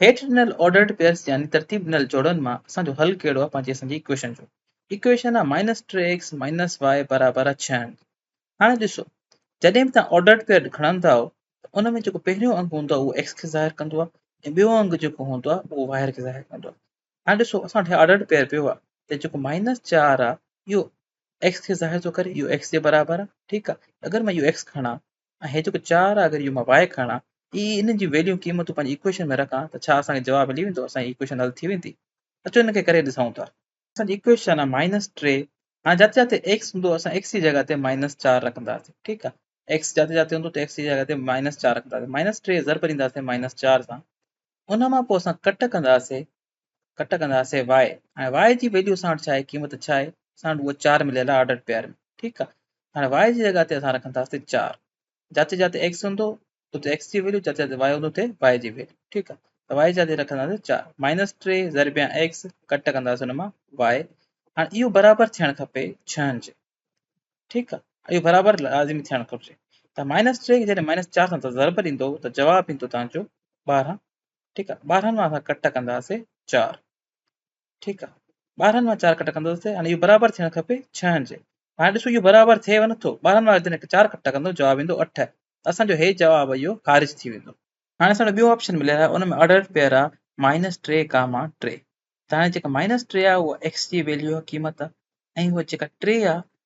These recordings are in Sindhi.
هيٺ ڏنل آرڊرڊ پيئرس يعني ترتيب ڏنل جوڙن مان اسان جو حل ڪهڙو آهي پنهنجي اسان جي ايڪويشن جو ايڪويشن آهي مائنس ٽي ايڪس مائنس وائي برابر آهي ڇهن هاڻي ڏسو جڏهن به توهان آرڊرڊ پيئر کڻندا آهو ته ان ۾ جيڪو پهريون انگ هوندو آهي اهو ايڪس کي ظاهر ڪندو آهي ۽ ٻيو انگ جيڪو هوندو آهي اهو وائر کي ظاهر ڪندو آهي هاڻي ڏسو اسان وٽ آرڊرڊ پيئر پيو آهي ته جيڪو مائنس چار آهي اهو ايڪس کي ظاهر ٿو ڪري اهو ايڪس جي برابر آهي ٺيڪ آهي اگر مان اهو ايڪس کڻان ۽ هي جيڪو چار آ اگر اهو مان واء کڻان اي انهن جون ويليون قيمتون پنهنجي ايڪويشن ۾ رکان ته ڇا اسان کي جواب ملي ويندو اسان جي ايڪويشن حل ٿي ويندي اچو ان کي ڪري ڏسائون ٿا. اسان جي ايڪويشن آ مائنس ٽي هاڻي جاتي جاتي ايڪس هوندو اسان ايڪس جي جڳهه تي مائنس چار رکنداسين ٺيڪ آ ايڪس جاتي جاتي هوندو ته ايڪس جي جڳهه تي مائنس چار رکنداسين مائنس ٽي ضرب ڏينداسين مائنس چار سان ان مان پوء اسان ڪٽ ڪنداسين ڪٽ ڪنداسين واء هاڻي واء جي ويليو اسان وٽ ڇا آهي قيمت ڇا آهي اسان وٽ هو چار مليل آهي آرڊر پيئر ۾ ٺيڪ آهي هاڻي واء جي جڳهه تي اسان رکنداسين چار جاتے جاتے ایڪس هوندو اتي ایڪس جي ويليو جاتے جاتے واء هوندو اتي واء جي ويليو ٺيڪ آهي ته واء جاتے رکنداسين چار مائنس ٽي ضربيا ایڪس ڪٽ ڪنداسين ان مان واء هاڻي اهو برابر ٿيڻ کپي ڇهن جي ٺيڪ آهي اهو برابر لازمي ٿيڻ گهرجي ته مائنس ٽي کي جڏهن مائنس چار سان ضرب ڏيندو ته جواب ايندو تنهنجو ٻارهن ٺيڪ آ ٻارهن مان اسان ڪٽ ڪنداسي چار ٺيڪ آ ٻارهن مان چار ڪٽ ڪنداسي يعني اهو برابر ٿيڻ کپي ڇهن جي هاڻي ڏسو اهو برابر ٿئيو نٿو ٻارهن مان جڏهن چار ڪٽ ڪندو جواب ايندو اٺ اسان جو هي جواب اهو خارج ٿي ويندو هاڻي اسان ٻيو آپشن مليل آهي ان ۾ آرڊر پيئر آهي مائنس ٽي ڪاما ٽي ته هاڻي جيڪا مائنس ٽي آهي اها ايڪس جي ويليو آهي قيمت آهي ۽ اها جيڪا ٽي آهي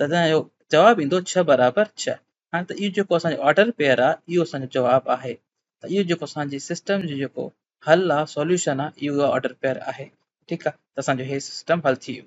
تڏهن اهو جواب ايندو ڇهه برابر ڇهه. هاڻي ته اهو جيڪو اسان جو آرڊر پيئر آهي اهو اسان جو جواب آهي ته اهو جيڪو اسان جي سسٽم جو جيڪو حل آهي سوليوشن آهي اهو آرڊر پيئر آهي ٺيڪ آهي ته اسان جو هي سسٽم حل ٿي ويو.